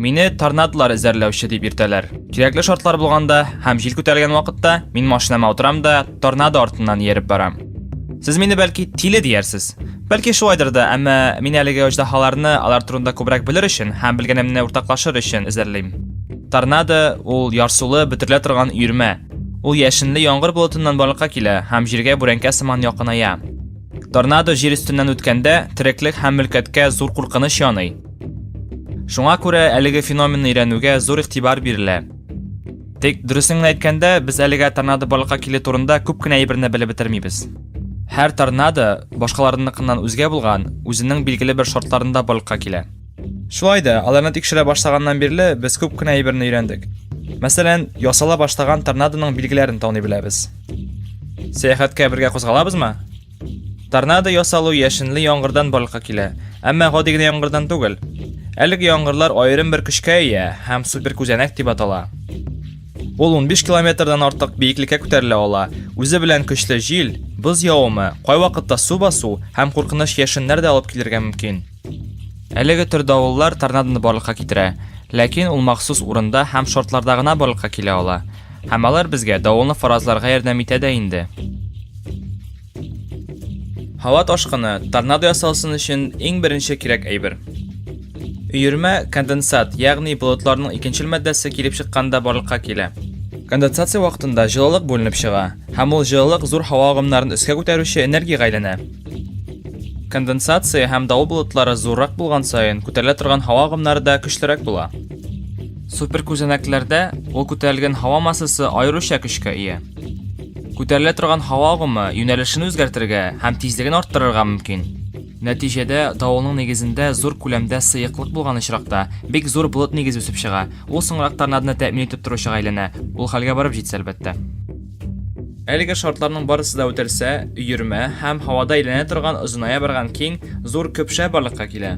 Мине торнадолар эзәрләүче дип иртәләр. Кирәкле шартлар булганда һәм җил күтәрелгән вакытта мин машинама утырам да торнадо артыннан ияреп барам. Сез мине бәлки тиле диярсез. Бәлки шулайдыр да, әмма мин әлеге оҗдаһаларны алар турында күбрәк белер өчен һәм белгәнемне уртаклашыр өчен эзәрлим. Торнадо ул ярсулы, бөтерелә торган өермә. Ул яшенле яңгыр болытыннан барлыкка килә һәм җиргә бүрәнкә сыман якыная. Торнадо җир өстеннән үткәндә, тереклек һәм мөлкәткә зур куркыныч яный. Шуңа күрә әлеге феноменны өйрәнүгә зур игътибар бирелә. Тик дөресен генә әйткәндә, без әлегә торнадо барлыкка килү турында күп кенә әйберне белеп бетермибез. Һәр торнадо башкаларыныкыннан үзгә булган, үзенең билгеле бер шартларында барлыкка килә. Шулай да, аларны тикшерә башлаганнан бирле без күп кенә әйберне өйрәндек. Мәсәлән, ясала башлаган торнадоның билгеләрен таный беләбез. Сәяхәткә бергә кузгалабызмы? Торнадо ясалу яшенле яңгырдан барлыкка килә, әмма гади генә яңгырдан түгел. Әлеге яңгырлар аерым бер көчкә ия һәм супер күзәнәк дип атала. Ул 15 километрдан артык биеклеккә күтәрелә ала. Үзе белән көчле җил, боз явымы, кайвакытта су басу һәм куркыныч яшеннәр дә алып килергә мөмкин. Әлеге төр давыллар торнадоны барлыкка китерә, ләкин ул махсус урында һәм шартларда гына барлыкка килә ала. Һәм алар безгә давылны фаразларга ярдәм итә дә инде. Һава ташкыны, торнадо ясалсын өчен иң беренче кирәк әйбер. Өермә конденсат, ягъни болытларның икенчел матдәсе килеп чыкканда барлыкка килә. Конденсация вакытында җылылык бүленеп чыга, һәм ул җылылык зур һава агымнарын өскә күтәрүче энергиягә әйләнә. Конденсация һәм давыл болытлары зуррак булган саен күтәрелә торган һава агымнары да көчлерәк була. Суперкүзәнәкләрдә ул күтәрелгән һава массасы аеруча көчкә ия. Күтәрелә торган һава агымы юнәлешен үзгәртергә һәм тизлеген арттырырга мөмкин. Нәтиҗәдә давылның нигезендә зур күләмдә сыеклык булган очракта, бик зур болыт нигезе үсеп чыга. Ул соңрак торнадоны тәэмин итеп торучыга әйләнә, ул хәлгә барып җитсә, әлбәттә. Әлеге шартларның барысы да үтәлсә, өермә һәм һавада әйләнә торган озыная барган киң, зур көпшә барлыкка килә.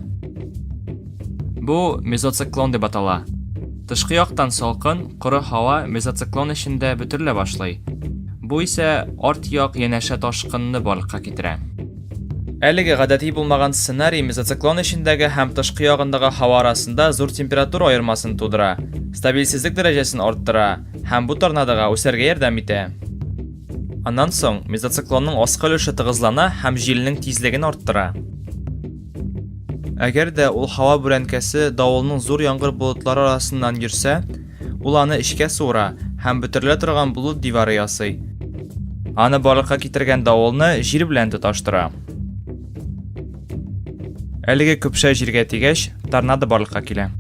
Бу мезоциклон дип атала. Тышкы яктан салкын, коры һава мезоциклон эчендә бөтерелә башлый. Бу исә арт як янәшә ташкынны барлыкка китерә. Әлеге гадәти булмаган сценарий мезоциклон эчендәге һәм тышкы ягындагы һава арасында зур температура аермасын тудыра, стабильсезлек дәрәҗәсен арттыра, һәм бу торнадога үсәргә ярдәм итә. Аннан соң мезоциклонның аскы өлеше тыгызлана һәм җилнең тизлеген арттыра. Әгәр дә ул һава бүрәнкәсе давылның зур яңгыр болытлары арасыннан йөрсә, ул аны эчкә суыра һәм бөтерелә торган болыт дивары ясый. Аны барлыкка китергән давылны җир белән тоташтыра. Әлеге көпшә җиргә тигәч, торнадо барлыкка килә.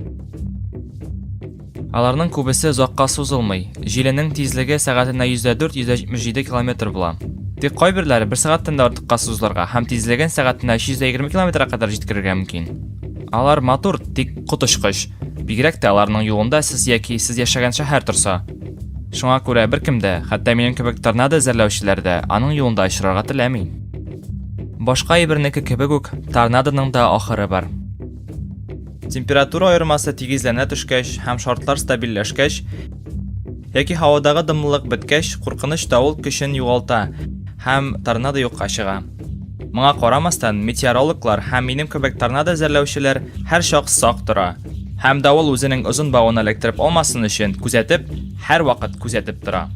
Аларның күбесе озакка сузылмый, җиленең тизлеге сәгатенә 104-177 километр була. Тик кайберләре бер сәгатьтән дә артыкка сузылырга һәм тизлеген сәгатенә 320 километрга кадәр җиткерергә мөмкин. Алар матур, тик коточкыч. Бигрәк тә аларның юлында сез яки сез яшәгән шәһәр торса. Шуңа күрә беркем дә, хәтта минем кебек торнадо эзәрләүчеләр дә, аның юлында очрарга теләми. Башка әйбернеке кебек үк, торнадоның да ахыры бар. Температура аермасы тигезләнә төшкәч һәм шартлар стабильләшкәч, яки һавадагы дымлылык беткәч, куркыныч давыл көчен югалта һәм торнадо юкка чыга. Моңа карамастан, метеорологлар һәм минем кебек торнадо эзәрләүчеләр һәрчак сак тора һәм давыл үзенең озын бавын эләктереп алмасын өчен күзәтеп, һәрвакыт күзәтеп тора.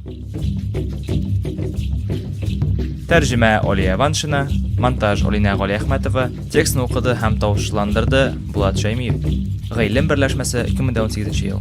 Тәрҗемә Алия Ваншина, монтаж Алинә Галиәхмәтова, текстны укыды һәм тавышландырды Булат Шәймиев. Гыйлем берләшмәсе 2018 ел.